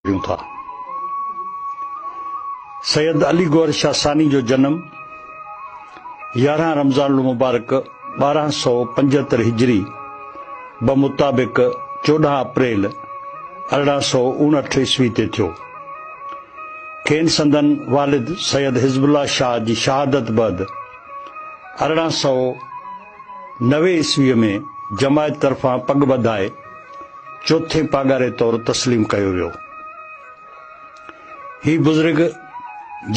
ڏيون ٿا. سيد علي گوهر شاهه ثاني جو جنم يارهن رمضان المبارڪ ٻارهن سؤ پنجهتر هجري بمطابق چوڏهن اپريل ارڙهن سؤ اڻهٺ عيسوي تي ٿيو. کين سندن والد سيد حزب الله شاهه جي شهادت بعد ارڙهن سؤ نوي عيسويء ۾ جماعت طرفان پڳ ٻڌائي چوٿين پاڳاري طور تسليم ڪيو ويو. هي بزرگ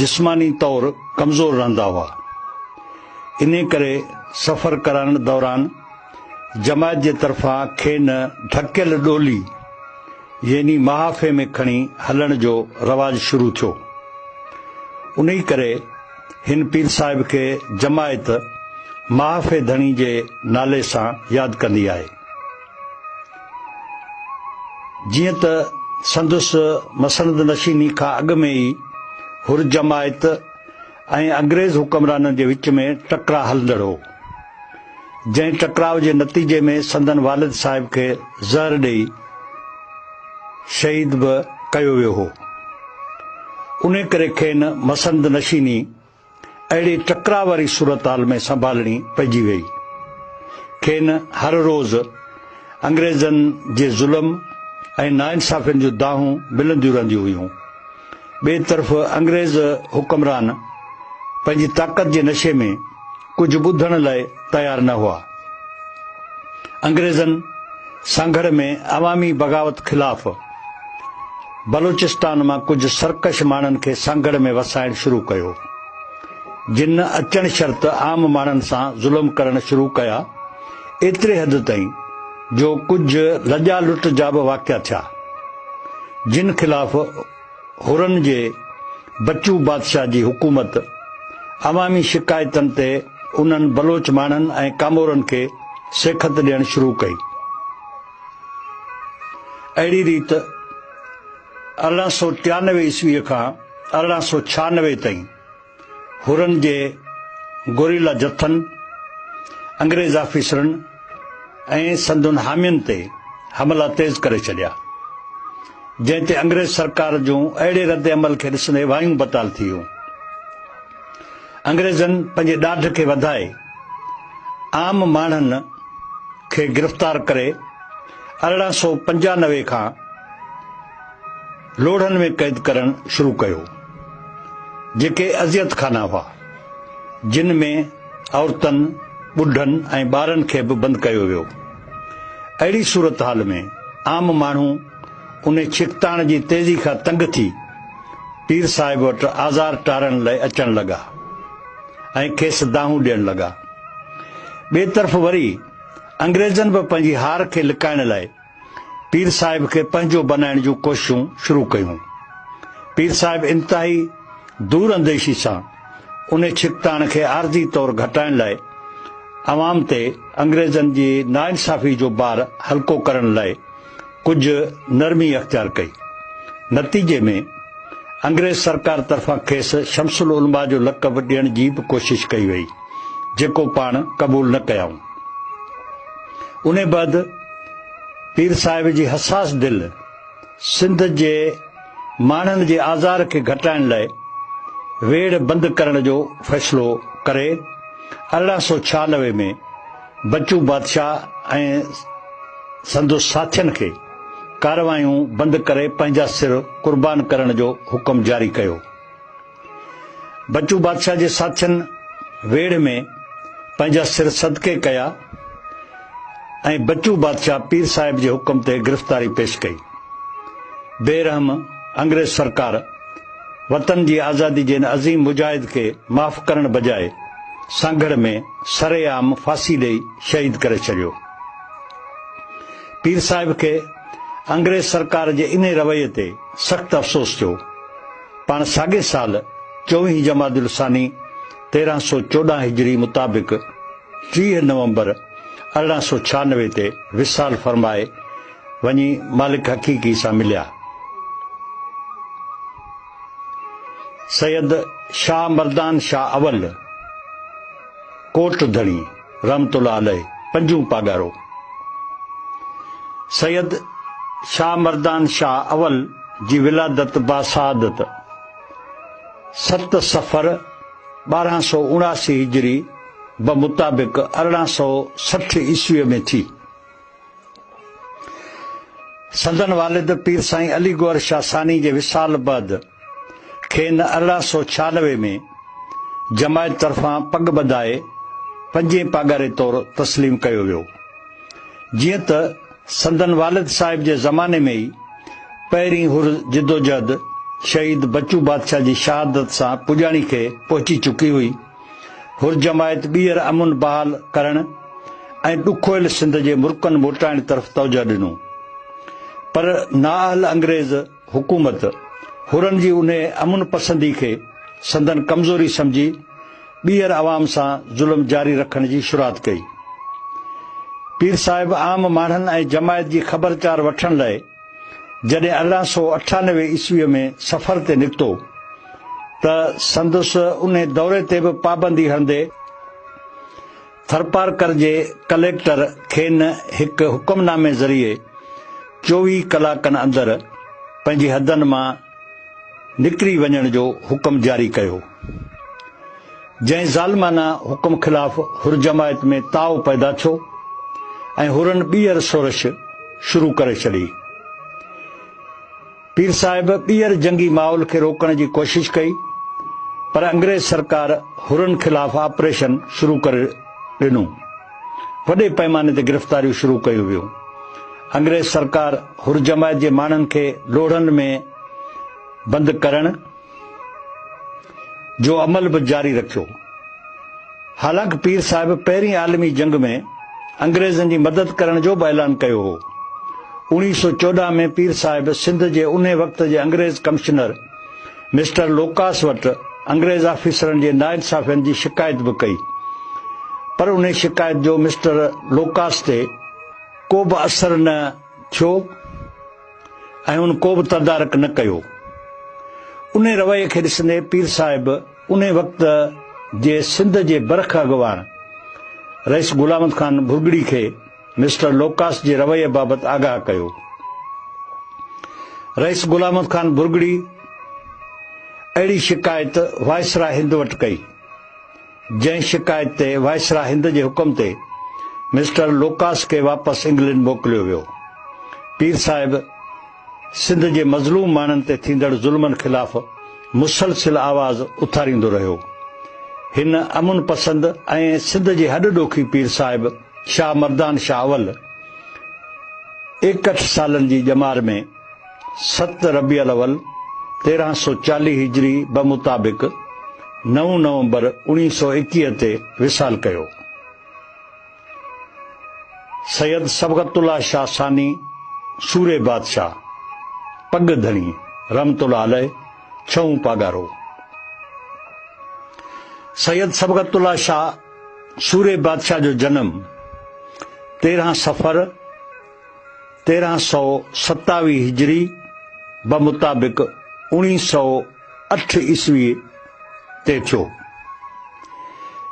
جسماني طور ڪمزور رهندا هئا، انهي ڪري سفر ڪرڻ دوران جماعت جي طرفان کين ڍڪيل ڏولي يعني محافي ۾ کڻي هلڻ جو رواج شروع ٿيو. انهي ڪري هن پير صاحب کي جماعت محافع ڌڻي جي نالي سان ياد ڪندي آهي. جيئن ته سندس مسند نشيني کان اڳ ۾ ئي حر جماعت ۽ انگريز حڪمرانن جي وچ ۾ ٽڪراء هلندڙ هو. جنهن ٽڪراء جي نتيجي ۾ سندن والد صاحب کي زهر ڏئي شهيد به ڪيو ويو هو. انهي ڪري کين مسند نشيني اهڙي ٽڪراء واري صورتحال ۾ سنڀالڻي پئجي ويئي. کين هر روز انگريزن جي ظلم ۽ ناانصافين جون دانهون ملنديون رهنديون هيون. ٻئي طرف انگريز حڪمران پنهنجي طاقت جي نشي ۾ ڪجهه ٻڌڻ لاء تيار نه هئا. انگريزن سانگهڙ ۾ عوامي بغاوت خلاف بلوچستان مان ڪجهه سرڪش ماڻهن کي سانگهڙ ۾ وسائڻ شروع ڪيو، جن اچڻ شرط عام ماڻهن سان ظلم ڪرڻ شروع ڪيا، ايتري حد تائين، جو ڪجهه لڄا لٽ جا به واقعا ٿيا، جن خلاف حرن جي بچو بادشاهه جي حڪومت عوامي شڪايتن تي انهن بلوچ ماڻهن ۽ ڪامورن کي سيکت ڏيڻ شروع ڪئي. اهڙي ريت ارڙهن سؤ ٽيانوي عيسويء کان ارڙهن سؤ ڇهانوي تائين حرن جي گوريلا جٿن، انگريز آفيسرن ۽ سندن حامين تي حملا تيز ڪري ڇڏيا، جنهن تي انگريز سرڪار جون اهڙي رد عمل کي ڏسندي وايون بتال ٿي ويون. انگريزن پنهنجي ڏاڍ کي وڌائي عام ماڻهن کي گرفتار ڪري ارڙهن سؤ پنجانوي کان، لوڙهن ۾ قيد ڪرڻ شروع ڪيو، جيڪي اذيت خانا هئا، جن ۾ عورتن، ٻڍن ۽ ٻارن کي به بند ڪيو ويو. اهڙي صورتحال ۾ عام ماڻهو ان ڇڪتاڻ جي تيزي کان تنگ ٿي پير صاحب وٽ آزار ٽارڻ لئه اچڻ لڳا ۽ کيس دانهون ڏيڻ لڳا. ٻئي طرف وري انگريزن به پنهنجي هار کي لڪائڻ لئه، پير صاحب کي پنهنجو بنائڻ جون ڪوششون شروع ڪيون. پير صاحب انتهائي دور انديشي سان انهي ڇڪتاڻ کي عارضي طور گهٽائڻ لاء عوام تي انگريزن جي ناانصافي جو بار هلڪو ڪرڻ لاء ڪجهه نرمي اختيار ڪئي. نتيجي ۾ انگريز سرڪار طرفان کيس شمس العلماء جو لقب ڏيڻ جي به ڪوشش ڪئي وئي، جيڪو پاڻ قبول نه ڪيائون. انهيء بعد پير صاحب جي حساس دل سنڌ جي ماڻهن جي آزار کي گهٽائڻ لاء ويڙهه بند ڪرڻ جو فيصلو ڪري ارڙهن سؤ ڇهانوي ۾ بچو بادشاهه ۽ سندس ساٿين کي ڪارروايون بند ڪري پنهنجا سر قربان ڪرڻ جو حڪم جاري ڪيو. بچو بادشاهه جي ساٿين ويڙهه ۾ پنهنجا سر صدقي ڪيا ۽ بچو بادشاهه پير صاحب جي حڪم تي گرفتاري پيش ڪئي. بي رحم انگريز سرڪار وطن جي آزادي جي ان عظيم مجاهد کي معاف ڪرڻ بجاء سانگهڙ ۾ سري عام ڦاسي ڏئي شهيد ڪري ڇڏيو. پير صاحب کي انگريز سرڪار جي انهي رويي تي سخت افسوس ٿيو. پاڻ ساڳئي سال چوويهين جمادي الثاني تيرهن سؤ چوڏهن هجري مطابق ٽيهه نومبر ارڙهن سؤ ڇهانوي تي وصال فرمائي وڃي مالڪ حقيقي سان مليا. سيد شاهه مردان شاهه اول ڪوٽ ڌڻي رحمة الله عليه پنجون پاڳارو سيد شاهه مردان شاهه اول جي ولادت باسعادت ست صفر ٻارهن سؤ اڻاسي هجري بمطابق ارڙهن سؤ سٺ عيسويء ۾ ٿي. سندن والد پير سائين علي گوهر شاهه ثاني جي وصال بعد کين ارڙهن سؤ ڇيانوي ۾ جماعت طرفان پڳ ٻڌائي پنجين پاڳاري طور تسليم ڪيو ويو. جيئن ته سندن والد صاحب جي زماني ۾ ئي پهرين حر جدوجهد شهيد بچو بادشاهه جي شهادت سان پڄاڻي کي پهچي چڪي هئي، حرجماعت ٻيهر امن بحال ڪرڻ ۽ ڏکويل سنڌ جي مرڪن موٽائڻ طرف توجهه ڏنو پر نااهل انگريز حڪومت حرن جي انهي امن پسندي کي سندن ڪمزوري سمجهي ٻيهر عوام سان ظلم جاري رکڻ جي شروعات ڪئي. پير صاحب عام ماڻهن ۽ جماعت جي خبرچار وٺڻ لاء جڏهن ارڙهن سؤ اٺانوي عيسويء ۾ سفر تي نڪتو ته سندس انهي دوري تي به پابندي هڻندي ٿرپارڪر جي ڪليڪٽر کين هڪ حڪم نامي ذريعي چوويهه ڪلاڪن اندر پنهنجي حدن مان نڪري وڃڻ جو حڪم جاري ڪيو. جنهن ظالمانه حڪم خلاف حر جماعت ۾ تاء پيدا ٿيو ۽ حرن ٻيهر شورش شروع ڪري ڇڏي. پير صاحب ٻيهر جنگي ماحول کي روڪڻ جي ڪوشش ڪئي پر انگريز سرڪار حرن خلاف آپريشن شروع ڪري ڏنو. وڏي پئماني تي گرفتاريون شروع ڪيون ويون. انگريز سرڪار حر جماعت جي ماڻهن کي لوڙهن ۾ بند ڪرڻ جو عمل به جاري رکيو. حالانڪ پير صاحب پهرين عالمي جنگ ۾ انگريزن جي مدد ڪرڻ جو به اعلان ڪيو هو. اوڻيهه سؤ چوڏهن ۾ پير صاحب سنڌ جي انهي وقت جي انگريز ڪمشنر، مسٽر لوڪاس وٽ انگريز آفيسرن جي ناانصافين جي شڪايت به ڪئي، پر انهي شڪايت جو مسٽر لوڪاس تي ڪوبه اثر نه ٿيو ۽ ان ڪوبه تدارڪ نه ڪيو. انهي رويي کي ڏسندي پير صاحب انهي وقت جي سنڌ جي برک اڳواڻ رئيس غلامت خان ڀرڳڙي کي مسٽر لوڪاس جي رويي بابت آگاهه ڪيو. رئيس غلام محمد خان برگڙي اهڙي شڪايت وائسراء هند وٽ ڪئي، جنهن شڪايت تي وائسراء هند جي حڪم تي مسٽر لوڪاس کي واپس انگلنڊ موڪليو ويو. پير صاحب سنڌ جي مظلوم ماڻهن تي ٿيندڙ ظلمن خلاف مسلسل آواز اٿاريندو رهيو. هن امن پسند ۽ سنڌ جي هڏ ڏوکي پير صاحب، شاهه مردان شاهه اول ايڪهٺ سالن جي ڄمار ۾ ست ربيع الاول تيرهن سؤ چاليهه هجري بمطابق نو نومبر اوڻيهه سؤ ايڪيهه تي وصال ڪيو. سيد صبغت الله شاهه ثاني سوري بادشاهه، پڳ ڌڻي، رحمة الله عليه ڇهون پاڳارو. سيد صبغت الله شاهه، سوري بادشاهه جو جنم تيرهن صفر تيرهن سؤ ستاويهه هجري بمطابق اوڻيهه سؤ اٺ عيسوي تي ٿيو.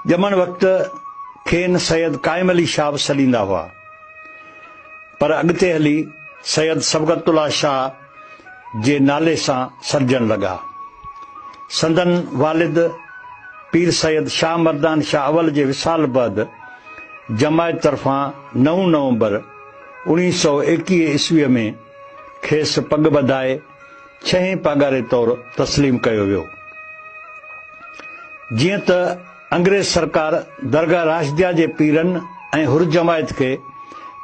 ڄمڻ وقت کين سيد قائم علي شاهه سڏيندا هئا پر اڳتي هلي سيد صبغت الله شاهه جي نالي سان سڏجڻ لڳا. سندن والد پير سيد شاهه مردان شاهه اول جي وصال بعد جماعت طرفان نو نومبر اوڻيهه سؤ ايڪيهه عيسويء ۾ کيس پڳ ٻڌائي ڇهين پاڳاري طور تسليم ڪيو ويو. جيئن ته انگريز سرڪار درگاهه راشديه جي پيرن ۽ حرجماعت کي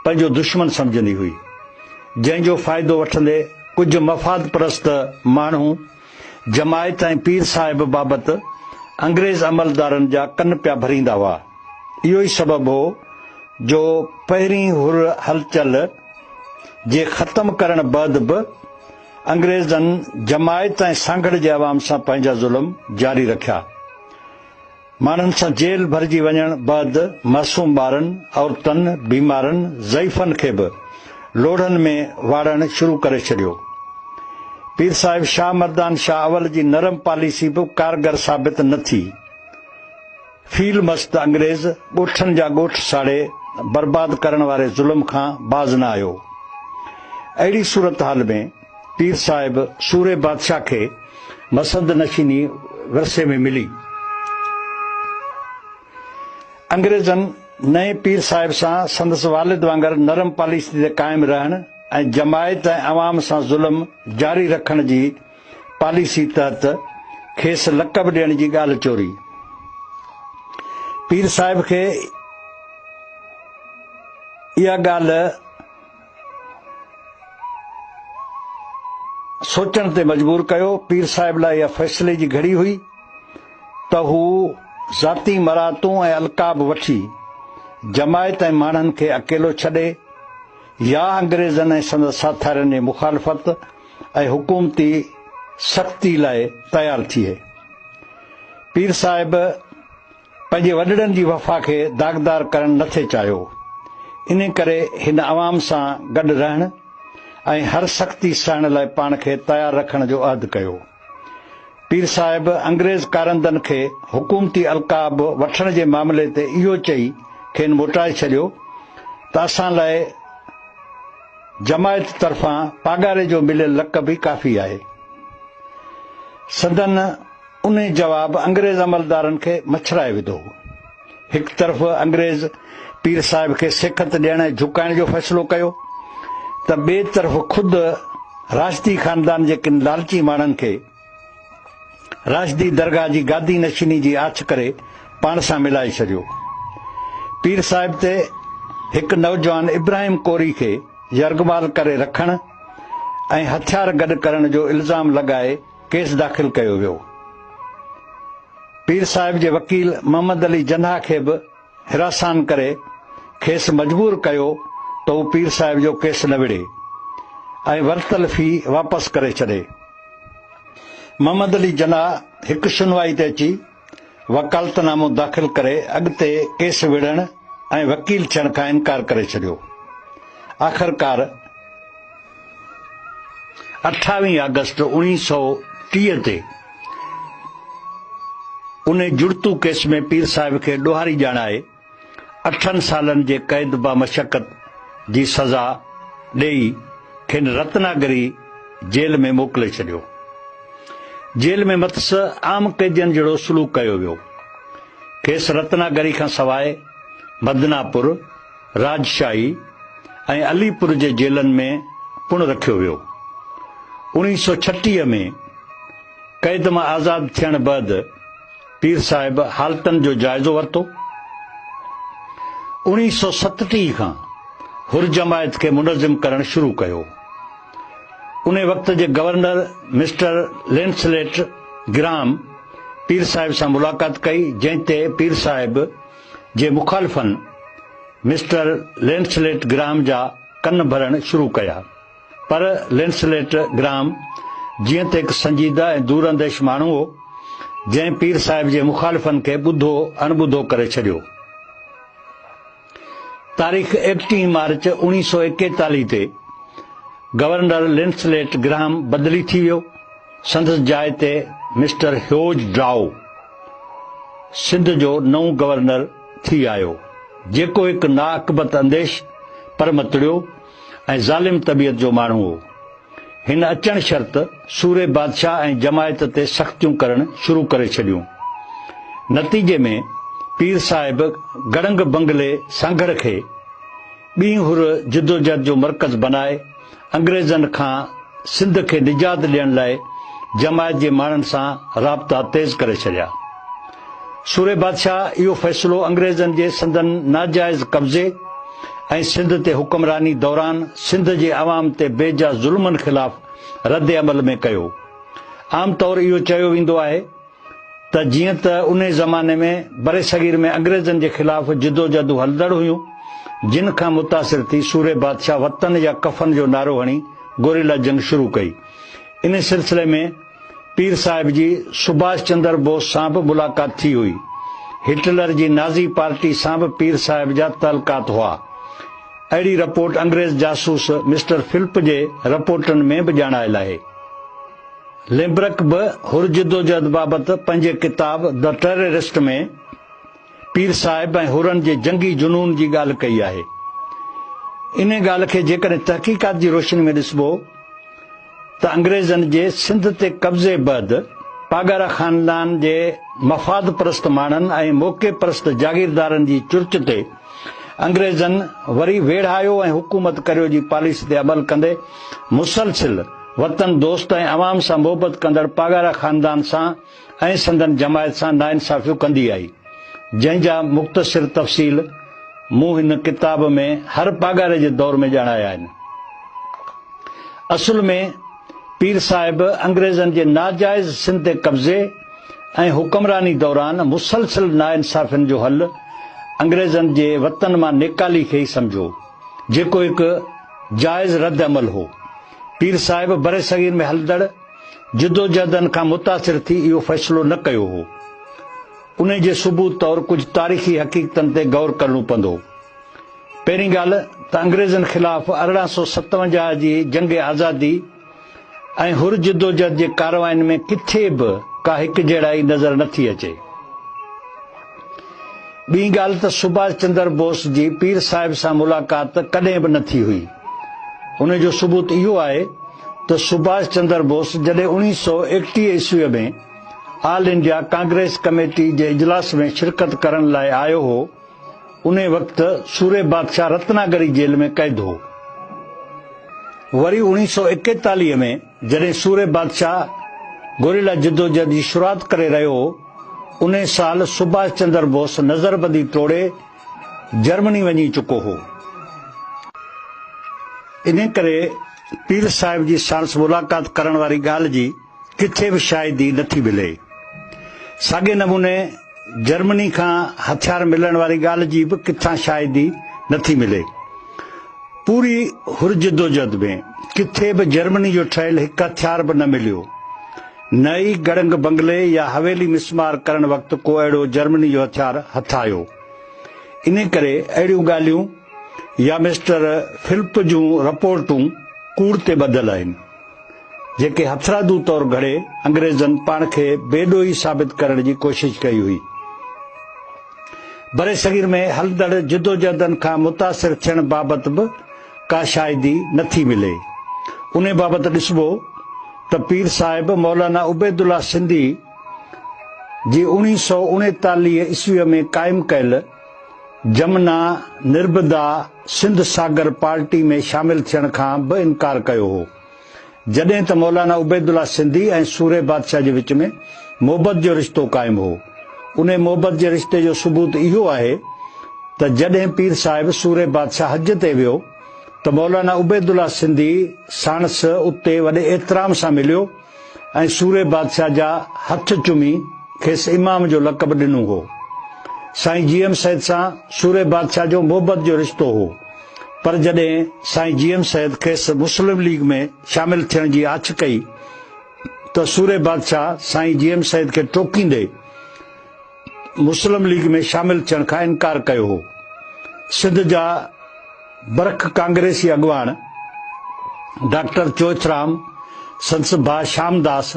پنهنجو دشمن سمجهندي هئي، جنهن جو فائدو وٺندي ڪجهه مفاد پرست ماڻهو جماعت ۽ پير صاحب بابت انگريز عملدارن جا ڪن پيا ڀريندا هئا. اهو ئي سبب هو جو پهرين حر هلچل جي ختم ڪرڻ بعد به انگريزن جماعت ۽ سانگهڙ جي عوام سان پنهنجا ظلم جاري رکيا. ماڻهن سان جيل ڀرجي وڃڻ بعد معصوم ٻارن، عورتن، بيمارن، ضعيفن کي به لوڙهن ۾ واڙڻ شروع ڪري ڇڏيو. پير صاحب شاهه مردان شاهه اول جي نرم پاليسي به ڪارگر ثابت نه ٿي. فيل مست انگريز ڳوٺن جا ڳوٺ ساڙي برباد ڪرڻ واري ظلم کان باز نه آيو. اهڙي صورتحال ۾ پير صاحب سوري بادشاهه کي مسند نشيني ورثي ۾ ملي. انگريزن نئين پير صاحب سان سندس والد وانگر نرم پاليسي تي قائم رهڻ ۽ جماعت ۽ عوام سان ظلم جاري رکڻ جي پاليسي تحت کيس لقب ڏيڻ جي ڳالهه چوري پير صاحب کي اها ڳالهه سوچڻ تي مجبور ڪيو پير صاحب لاء اها فيصلي جي گهڙي هئي ته هو ذاتي مراتون ۽ القاب وٺي جماعت ۽ ماڻهن کي اڪيلو ڇڏي يا انگريزن ۽ سندس ساٿارين جي مخالفت ۽ حڪومتي سختي لاء تيار ٿئي. پير صاحب پنهنجي وڏڙن جي وفا کي داغدار ڪرڻ نه ٿي چاهيو، انهي ڪري هن عوام سان گڏ رهڻ ۽ هر سختي سهڻ لاء پاڻ کي تيار رکڻ جو عهد ڪيو. پير صاحب انگريز ڪارندن کي حڪومتي القاب وٺڻ جي معاملي تي اهو چئي کين موٽائي ڇڏيو ته اسان لاء جماعت طرفان پاڳاري جو مليل لقب ئي ڪافي آهي. سندن انهي جواب انگريز عملدارن کي مڇرائي وڌو هو. هڪ طرف انگريز پير صاحب کي سيکت ڏيڻ ۽ جهڪائڻ جو فيصلو ڪيو ته ٻئي طرف خود راشدي خاندان جي ڪن لالچي ماڻهن کي راشدي درگاهه جي گادي نشيني جي آڇ ڪري پاڻ سان ملائي ڇڏيو پير صاحب تي هڪ نوجوان ابراهيم ڪوري کي يرغمال ڪري رکڻ ۽ هٿيار گڏ ڪرڻ جو الزام لڳائي ڪيس داخل ڪيو ويو. پير صاحب جي وڪيل محمد علي جناح کي به حراسان ڪري کيس مجبور ڪيو ته هو پير صاحب جو ڪيس نه وڙهي ۽ ورتل في واپس ڪري ڇڏي. محمد علي جناح هڪ شنوائي تي اچي وڪالتنامو داخل ڪري اڳتي ڪيس وڙهڻ ۽ وڪيل ٿيڻ کان انڪار ڪري ڇڏيو. آخرڪار اٺاويهه آگسٽ اوڻيهه سؤ ٽيهه تي انهي جڙتو ڪيس ۾ پير صاحب کي ڏوهاري ڄاڻائي، اٺن سالن جي قيد بامشقت جي سزا ڏئي کين رتناگري جيل ۾ موڪلي ڇڏيو. جيل ۾ مٿس عام قيدين جهڙو سلوڪ ڪيو ويو. کيس رتناگري کان سواء مدناپور، راجشاهي ۽ علي پور جي جيلن ۾ پڻ رکيو ويو. اوڻيهه سؤ ڇٽيهه ۾ قيد مان آزاد ٿيڻ بعد، پير صاحب حالتن جو جائزو ورتو. اوڻيهه سؤ ستٽيهه کان حر جماعت کي منظم ڪرڻ شروع ڪيو. انهي وقت جي گورنر مسٽر لينسليٽ گرام پير صاحب سان ملاقات ڪئي جنهن تي پير صاحب جي مخالفن مسٽر لينسليٽ گرام جا ڪن ڀرڻ شروع ڪيا. پر لينسليٽ گرام جيئن ته هڪ سنجيده ۽ دور انديش ماڻهو هو، جنهن پير صاحب جي مخالفن کي ٻڌو اڻٻڌو ڪري ڇڏيو. تاريخ ايڪٽيهين مارچ اوڻيهه سؤ ايڪيتاليهه تي گورنر لينسليٽ گرام بدلي ٿي ويو، سندس جاء تي مسٽر هيوج ڊرائو سنڌ جو نئون گورنر ٿي آيو، جيڪو هڪ ناعاقبت انديش پر متڙيو ۽ ظالم طبيعت جو ماڻهو هو. هن اچڻ شرط سوري بادشاهه ۽ جماعت تي سختيون ڪرڻ شروع ڪري ڇڏيون. نتيجي ۾ پير صاحب گڙنگ بنگلي سانگهڙ کي ٻينهن هر جدوجهد جو مرڪز بنائي انگريزن کان سنڌ کي نجات ڏيڻ لاء جماعت جي ماڻهن سان رابطا تيز ڪري ڇڏيا. سورهيه بادشاهه اهو فيصلو انگريزن جي سندن ناجائز قبضي ۽ سنڌ تي حڪمراني دوران سنڌ جي عوام تي بي جا ظلمن خلاف رد عمل ۾ ڪيو. عام طور اهو چيو ويندو آهي ته جيئن ته انهي زماني ۾ برصغير ۾ انگريزن جي خلاف جدوجهدون هلندڙ هيون جن کان متاثر ٿي سورهيه بادشاهه وطن يا ڪفن جو نعرو هڻي گوريلا جنگ شروع ڪئي. انهي سلسلي ۾. پير صاحب جي سڀاش چندر بوس سان به ملاقات ٿي هئي. هٽلر جي نازي پارٽي سان به پير صاحب جا تعلقات هئا. اهڙي رپورٽ انگريز جاسوس مسٽر فلپ جي رپورٽن ۾ به ڄاڻايل آهي. ليمبرڪ به حر جدوجهد بابت پنهنجي ڪتاب The Terrorist ۾ پير صاحب ۽ حرن جي جنگي جنون جي ڳالهه ڪئي آهي. انهي ڳالهه کي جيڪڏهن تحقيقات جي روشني ۾ ڏسبو ته انگريزن جي سنڌ تي قبضي بعد پاڳارا خاندان جي مفاد پرست ماڻهن ۽ موقع پرست جاگيردارن جي چرچ تي انگريزن وري ويڙهايو ۽ حڪومت ڪريو جي پاليسي تي عمل ڪندي مسلسل وطن دوست ۽ عوام سان محبت ڪندڙ پاڳارا خاندان سان ۽ سندن جماعت سان ناانصافيون ڪندي آئي، جنهن جا مختصر تفصيل مون هن ڪتاب ۾ هر پاڳاري جي دور ۾ ڄاڻايا آهن. اصل ۾ پير صاحب انگريزن جي ناجائز سنڌ تي قبضي ۽ حڪمراني دوران مسلسل ناانصافين جو حل انگريزن جي وطن مان نيڪالي کي ئي سمجهو، جيڪو هڪ جائز ردعمل هو. پير صاحب برصغير ۾ هلندڙ. جدوجهدن کان متاثر ٿي اهو فيصلو نه ڪيو هو. انهي جي ثبوت طور ڪجهه تاريخي حقيقتن تي غور ڪرڻو پندو. پهرين ڳالهه ته انگريزن خلاف ارڙهن سؤ ستونجاهه جي جنگ آزادي ۽ حر جدوجهد جي ڪارواين ۾ ڪٿي به ڪا هڪجهڙائي نظر نه ٿي اچي. ٻي ڳالهه ته سڀاش چندر بوس جي پير صاحب سان ملاقات ڪڏهن به نه ٿي هئي. ان جو ثبوت اهو آهي ته سڀاش چندر بوس جڏهن اوڻيهه سؤ ايڪٽيهه عيسويء ۾ آل انڊيا ڪانگريس ڪميٽي جي اجلاس ۾ شرڪت ڪرڻ لاء آيو هو، انهي وقت سوري بادشاهه رتناگري جيل ۾ قيد هو. وري اوڻيهه سؤ ايڪيتاليهه ۾. جڏهن سوري بادشاهه گوريلا جدوجهد جي شروعات ڪري رهيو هو، انهي سال سڀاش چندر بوس نظربندي ٽوڙي جرمني وڃي چڪو هو. انهي ڪري پير صاحب جي ساڻس ملاقات ڪرڻ واري ڳالهه جي ڪٿي به شاهدي نٿي ملي. ساڳئي نموني جرمني کان هٿيار ملڻ واري ڳالهه جي به ڪٿان شاهدي نه ٿي ملي. پوري هر جدوجهد ۾ ڪٿي به جرمني جو ٺهيل هڪ هٿيار به نه مليو. نه ئي گڙنگ بنگلي يا حويلي مسمار ڪرڻ وقت ڪو اهڙو جرمني جو هٿيار هٿ آيو. انهي ڪري اهڙيون ڳالهيون يا مسٽر فلپ جون رپورٽون ڪوڙ تي ٻڌل آهن. جيڪي هٿرادو طور گهڙي انگريزن پاڻ کي بي ڏوهي ثابت ڪرڻ جي ڪوشش ڪئي هئي. برصغير ۾ هلندڙ جدوجهدن کان متاثر ٿيڻ بابت به ڪا شاهدي نه ٿي ملي. انهي بابت ڏسبو ته پير صاحب مولانا عبيدالله سنڌي جي اوڻيهه سؤ اڻيتاليهه عيسويء ۾ قائم ڪيل جمنا نربدا سنڌ ساگر پارٽي ۾ شامل ٿيڻ کان به انڪار ڪيو هو. جڏهن ته مولانا عبيدالله سنڌي ۽ سورهيه بادشاهه جي وچ ۾ محبت جو رشتو قائم هو. انهي محبت جي رشتي جو ثبوت اهو آهي ته جڏهن پير صاحب سورهيه بادشاهه حج تي ويو ته مولانا عبيدالله سنڌي ساڻس اتي وڏي احترام سان مليو ۽ سورهيه بادشاهه جا هٿ چمي کيس امام جو لقب ڏنو هو. سائين جي ايم سيد سان سورهيه بادشاهه جو محبت جو رشتو هو. پر جڏهن سائين جي ايم سيد کيس مسلم ليگ ۾ شامل ٿيڻ جي آڇ ڪئي ته سورهيه بادشاهه سائين جي ايم سيد کي ٽوڪيندي مسلم ليگ ۾ شامل ٿيڻ کان انڪار ڪيو هو. سنڌ جا برک ڪانگريسي اڳواڻ ڊاڪٽر چوئٿرام، سندس ڀاء شام داس،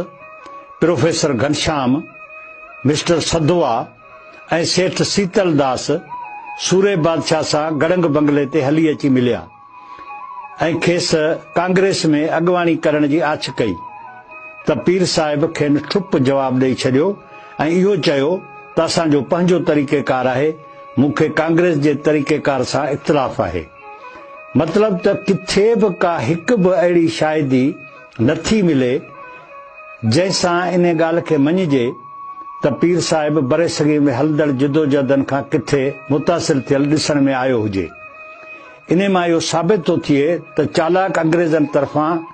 پروفيسر گهنشام، مسٽر سڌوا، ۽ سيٺ سيتل داس سورهيه بادشاهه سان گڙنگ بنگلي تي هلي اچي مليا ۽ کيس ڪانگريس ۾ اڳواڻي ڪرڻ جي آڇ ڪئي ته پير صاحب کين ٺپ جواب ڏئي ڇڏيو ۽ اهو چيو ته اسان جو پنهنجو طريقيڪار آهي مون کي ڪانگريس جي طريقيڪار سان اختلاف آهي مطلب ته ڪٿي به ڪا هڪ به اهڙي شاهدي نه ٿي ملي، جنهن سان انهيء ڳالهه کي مڃجي ته پير صاحب برصغير ۾ هلندڙ جدوجهدن کان ڪٿي متاثر ٿيل ڏسڻ ۾ آيو هجي. انهيء مان اهو ثابت ٿو ٿئي ته چالاڪ انگريزن طرفان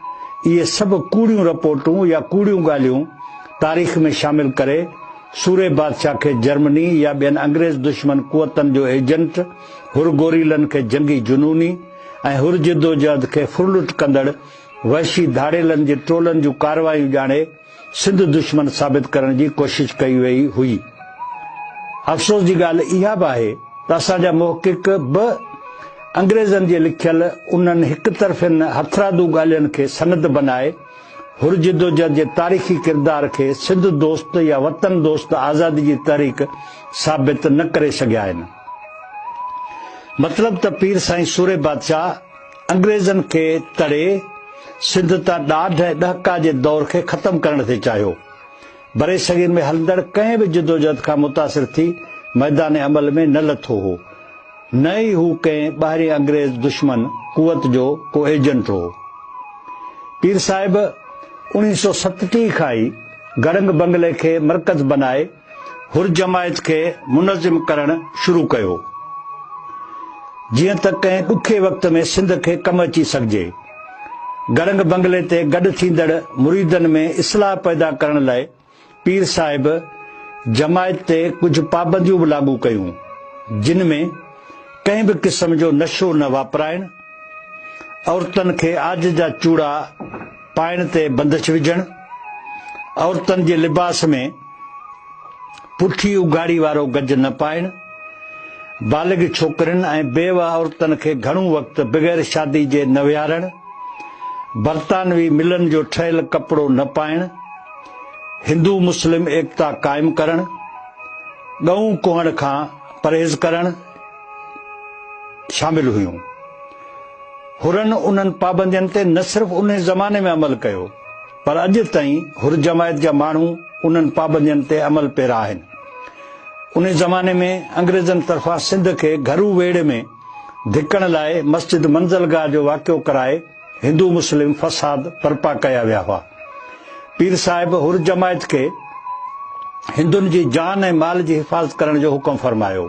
اهي سڀ ڪوڙيون رپورٽون يا ڪوڙيون ڳالهيون تاريخ ۾ شامل ڪري سورهيه بادشاهه کي جرمني يا ٻين انگريز دشمن قوتن جو ايجنٽ، حر گوريلن کي جنگي جنوني ۽ حر جدوجهد کي ڦرلٽ ڪندڙ وحشي ڌاڙيلن جي ٽولن جون ڪارروايون ڄاڻي سنڌ دشمن ثابت ڪرڻ جي ڪوشش ڪئي وئي هئي. افسوس جي ڳالهه اها به آهي ته اسان جا محقق به انگريزن جي لکيل انهن هڪ طرفين هٿرادو ڳالهين کي سند بنائي حر جدوجهد جي تاريخي ڪردار کي سنڌ دوست يا وطن دوست آزادي جي تحريڪ ثابت نه ڪري سگهيا آهن. مطلب ته پير سائين سورهيه بادشاهه، انگريزن کي تڙي سنڌ تان ڏاڍ ۽ ڏهڪاء جي دور کي ختم ڪرڻ تي چاهيو. برصغير ۾ هلندڙ ڪنهن به جدوجهد کان متاثر ٿي ميدان عمل ۾ نه لٿو هو، نه ئي هو ڪنهن ٻاهرين انگريز دشمن قوت جو ڪو ايجنٽ هو. پير صاحب اڻيهه سؤ ستٽيهه کان ئي گڙنگ بنگلي کي مرڪز بنائي، حر جماعت کي منظم ڪرڻ شروع ڪيو جيئن ته ڪنهن ڏکي وقت ۾ سنڌ کي ڪم اچي سگهجي. گڙنگ بنگلي تي گڏ ٿيندڙ مريدن ۾ اصلاح پيدا ڪرڻ لاء پير صاحب جماعت تي ڪجهه پابنديون به لاڳو ڪيون جن ۾ ڪنهن به قسم جو نشو نه واپرائڻ، عورتن کي عاج جا چوڙا، پائڻ تي بندش وجهڻ، عورتن جي لباس ۾ پٺي اگهاڙي وارو گج نه پائڻ، بالغ ڇوڪرين ۽ بيوه عورتن کي گهڻو وقت بغير شادي جي نه ويهارڻ، برطانوي ملن جو ٺهيل ڪپڙو نه پائڻ، هندو مسلم ايڪتا قائم ڪرڻ، ڳئون ڪهڻ کان پرهيز ڪرڻ، شامل هيون. حرن انهن پابندين تي نه صرف ان زماني ۾ عمل ڪيو پر اڄ تائين حر جماعت جا ماڻهو انهن پابندين تي عمل پيرا آهن. ان زماني ۾ انگريزن طرفان سنڌ کي گهرو ويڙهه ۾ ڌڪڻ لاء مسجد منزلگاهه جو واقعو ڪرائي، هندو مسلم فساد برپا ڪيا ويا هئا. پير صاحب حر جماعت کي هندن جي جان ۽ مال جي حفاظت ڪرڻ جو حڪم فرمايو.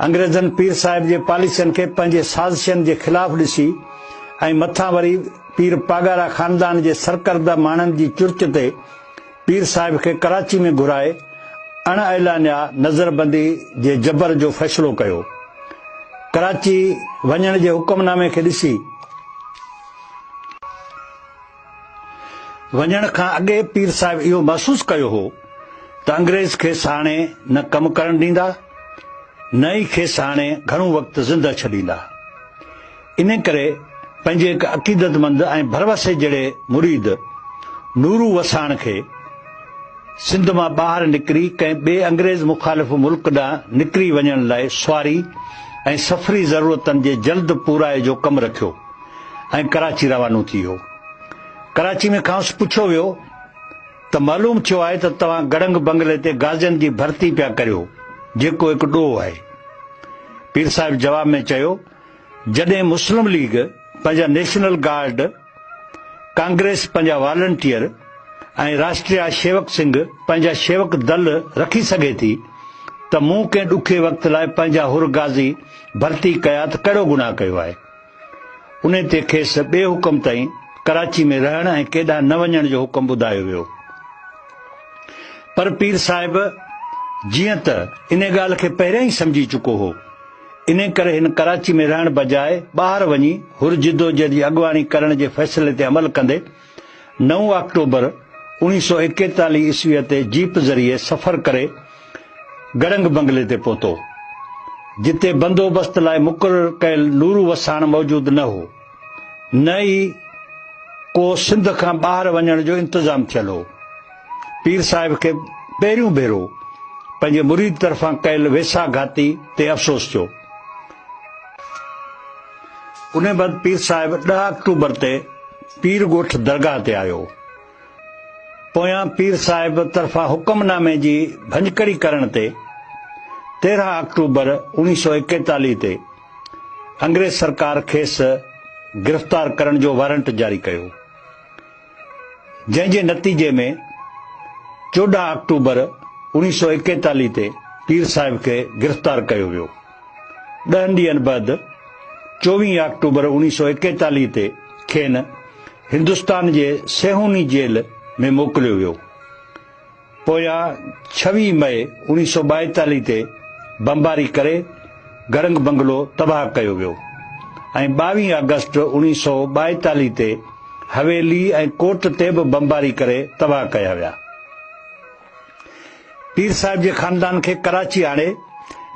انگريزن پير صاحب جي پاليسين کي پنهنجي سازشن جي خلاف ڏسي ۽ مٿان وري پير پاڳارا خاندان جي سرڪرده ماڻهن جي چرچ تي پير صاحب کي ڪراچي ۾ گهرائي اڻ اعلانيا نظربندي جي جبر جو فيصلو ڪيو. ڪراچي وڃڻ جي حڪم نامي کي ڏسي، وڃڻ کان اڳي پير صاحب اهو محسوس ڪيو هو ته انگريز کيس هاڻي نه ڪم ڪرڻ ڏيندا نه ئي کيس هاڻي گهڻو وقت زنده ڇڏيندا. انهيء ڪري پنهنجي هڪ عقيدتمند ۽ ڀروسي جهڙي مريد نورو وساڻ کي سنڌ مان ٻاهر نڪري ڪنهن ٻئي انگريز مخالف ملڪ ڏانهن نڪري وڃڻ لاء سواري ۽ سفري ضرورتن جي جلد پورائي جو ڪم رکيو ۽ ڪراچي روانو ٿي ويو. ڪراچي ۾ کانئس پڇيو ويو ته معلوم ٿيو آهي ته توهان گڙنگ بنگلي تي غازين جي ڀرتي پيا ڪريو جيڪو هڪ ڏوهه آهي. پير صاحب جواب ۾ چيو. جڏهن مسلم ليگ پنهنجا نيشنل گارڊ، ڪانگريس پنهنجا والنٽيئر ۽ راشٽريا شيوڪ سنگهه پنهنجا شيوڪ دل رکي سگهي ٿي ته مون ڪنهن ڏکي وقت لاء پنهنجا حر غازي ڀرتي ڪيا ته ڪهڙو گناهه ڪيو آهي؟ انهي تي کيس ٻئي حڪم تائين ڪراچي ۾ رهڻ ۽ ڪيڏانهن نه وڃڻ جو حڪم ٻڌايو ويو. پر پير صاحب جيئن ته انهي ڳالهه کي پهريان ئي سمجهي چڪو هو. انهيء ڪري هن ڪراچي ۾ رهڻ بجاء ٻاهر وڃي حر جدوجهد جي اڳواڻي ڪرڻ جي فيصلي تي عمل ڪندي نو آڪٽوبر اوڻيهه سؤ ايڪيتاليهه عيسويء تي جيپ ذريعي سفر ڪري گڙنگ بنگلي تي پهتو، جتي بندوبست لاء مقرر ڪيل نورو وساڻ موجود نه هو. نه ئي ڪو سنڌ کان ٻاهر وڃڻ جو انتظام ٿيل هو. پير صاحب کي پهريون ڀيرو پنهنجي مريد طرفان ڪيل ويساهه گهاتي تي افسوس ٿيو. ان بعد پير صاحب ڏهه آڪٽوبر تي پير ڳوٺ درگاهه تي آيو. پويان پير صاحب طرفان حڪم نامي جي ڀڃڪڙي ڪرڻ تي تيرهن آڪٽوبر اوڻيهه سؤ ايڪيتاليهه تي انگريز سرڪار کيس گرفتار ڪرڻ جو وارنٽ جاري ڪيو جنهن جي نتيجي ۾ چوڏهن آڪٽوبر اوڻيهه سو ايڪيتاليهه تي پير صاحب کي گرفتار ڪيو ويو ڏهن ڏينهن بعد چوويهه آڪٽوبر اوڻيهه سو ايڪيتاليهه تي کين هندستان جي سيهوني جيل ۾ موڪليو ويو پويان ڇويهه مئي اوڻيهه سؤ ٻائيتاليهه تي بمباري ڪري گرنگ بنگلو تباهه ڪيو ويو ۽ ٻاويهه آگسٽ اوڻيهه سؤ ٻائيتاليهه تي حويلي ۽ ڪوٽ تي به بمباري ڪري تباهه ڪيا ويا. پير صاحب جي خاندان کي ڪراچي آڻي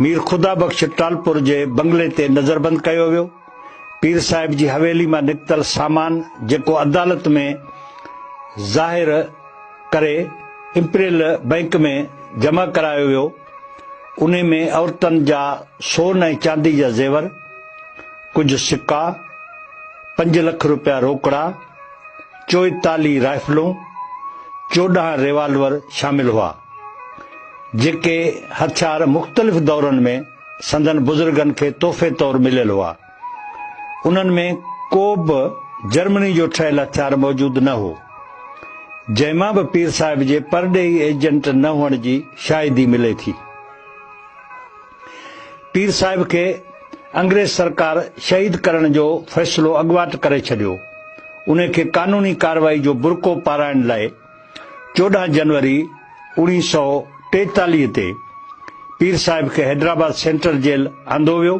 مير خدا بخش ٽالپور جي بنگلي تي نظربند ڪيو ويو. پير صاحب جي حويلي مان نڪتل سامان جيڪو عدالت ۾ ظاهر ڪري امپريل بئنڪ ۾ جمع ڪرايو ويو انهي ۾ عورتن جا سون ۽ چاندي جا زيور، ڪجهه سڪا، پنج لک روپيا روڪڙا، چوئيتاليهه رائفلون، چوڏهن ريوالور شامل هئا، جيڪي هٿيار مختلف دورن ۾ سندن بزرگن کي تحفي طور مليل هئا. انهن ۾ ڪو به جرمني جو ٺهيل هٿيار موجود نه هو، جنهن مان به پير صاحب جي پرڏيهي ايجنٽ نه هئڻ جي شاهدي ملي ٿي. پير صاحب کي انگريز سرڪار شهيد ڪرڻ جو فيصلو اڳواٽ ڪري ڇڏيو. انهي کي قانوني ڪارروائي جو برقعو پارائڻ لاء، چوڏهن جنوري اوڻيهه سؤ ٽيتاليهه تي پير صاحب کي حيدرآباد سينٽرل جيل آندو ويو.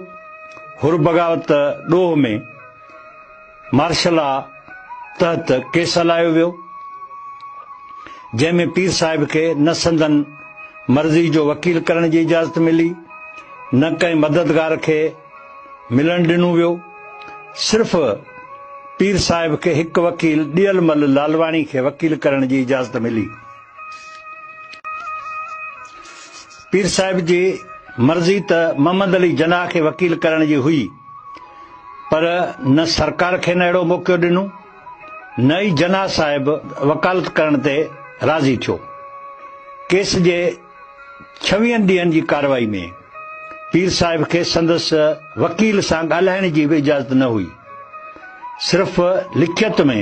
حر بغاوت ڏوهه ۾ مارشل لا تحت ڪيس هلايو ويو، جنهن ۾ پير صاحب کي نه سندن مرضي جو وڪيل ڪرڻ جي اجازت ملي، نه ڪنهن مددگار کي. ملڻ ڏنو ويو. صرف پير صاحب کي هڪ وڪيل ڏيل مل لالواڻي کي وڪيل ڪرڻ جي اجازت ملي. پير صاحب جي مرضي ته محمد علي جناح کي وڪيل ڪرڻ جي هئي پر نه سرڪار کين اهڙو موقعو ڏنو نه ئي جناح صاحب وڪالت ڪرڻ تي راضي ٿيو. ڪيس جي ڇويهن ڏينهن جي ڪارروائي ۾ پير صاحب کي سندس وڪيل سان ڳالهائڻ جي به اجازت نه هئي. صرف لکيت ۾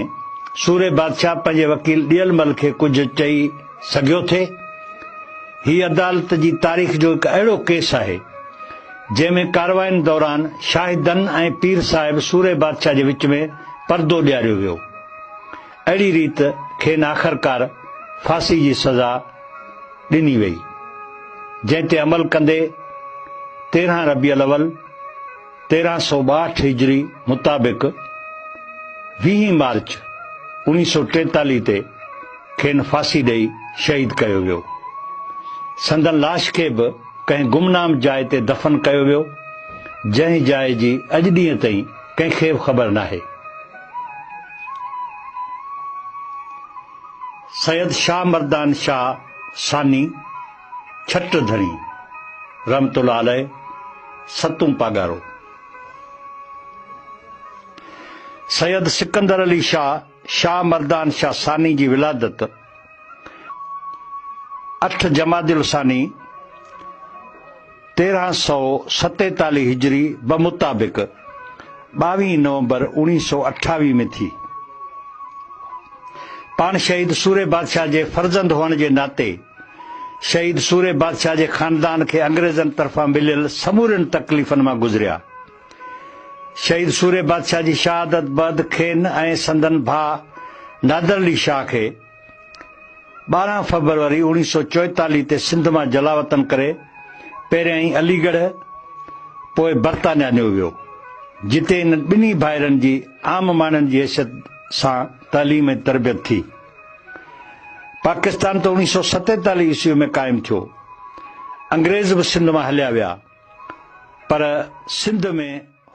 سورهيه بادشاهه پنهنجي وڪيل ڏيلمل کي ڪجهه چئي سگهيو ٿي. هي عدالت جي تاريخ جو هڪ اهڙو ڪيس آهي، جنهن ۾ ڪارروائين دوران شاهدن ۽ پير صاحب سورهيه بادشاهه جي وچ ۾ پردو ڏياريو ويو اهڙي ريت کين آخرڪار ڦاسي جي سزا ڏني ويئي، جنهن تي عمل ڪندي تيرهن ربيع الاول تيرهن سؤ ٻاهٺ هجري مطابق ويهين مارچ اوڻيهه سؤ ٽيتاليهه تي کين ڦاسي ڏئي شهيد ڪيو ويو. سندن لاش کي به ڪنهن گمنام جاء تي دفن ڪيو ويو، جنهن جاء جي اڄ ڏينهن تائين ڪنهن کي به خبر ناهي. سيد شاهه مردان شاهه ثاني ڇٽ ڌڻي رحمت الله عليه ستون پاڳارو. سيد سڪندر علي شاهه شاهه مردان شاهه ثاني جي ولادت. اٺ جمادي الثاني تيرهن سؤ ستيتاليهه هجري بمطابق ٻاويهه نومبر اوڻيهه سؤ اٺاويهه ۾ ٿي. پاڻ شهيد سوري بادشاهه جي فرزند هئڻ جي ناتي شهيد سوري بادشاهه جي خاندان کي انگريزن طرفان مليل سمورين تڪليفن مان گذريا شهيد سوري بادشاهه جي شهادت بعد کين ۽ سندن ڀاء نادر علي شاهه کي ٻارهن فيبروري اوڻيهه سؤ چوئيتاليهه تي سنڌ مان جلاوطن ڪري پهريائين علي ڳڙهه پوء برطانيا نيو ويو جتي انهن ٻنهي ڀائرن جي عام ماڻهن جي حيثيت سان تعليم ۽ تربيت ٿي. پاڪستان ته اوڻيهه سؤ ستيتاليهه عيسوي ۾ قائم ٿيو، انگريز به سنڌ مان هليا ويا پر سنڌ ۾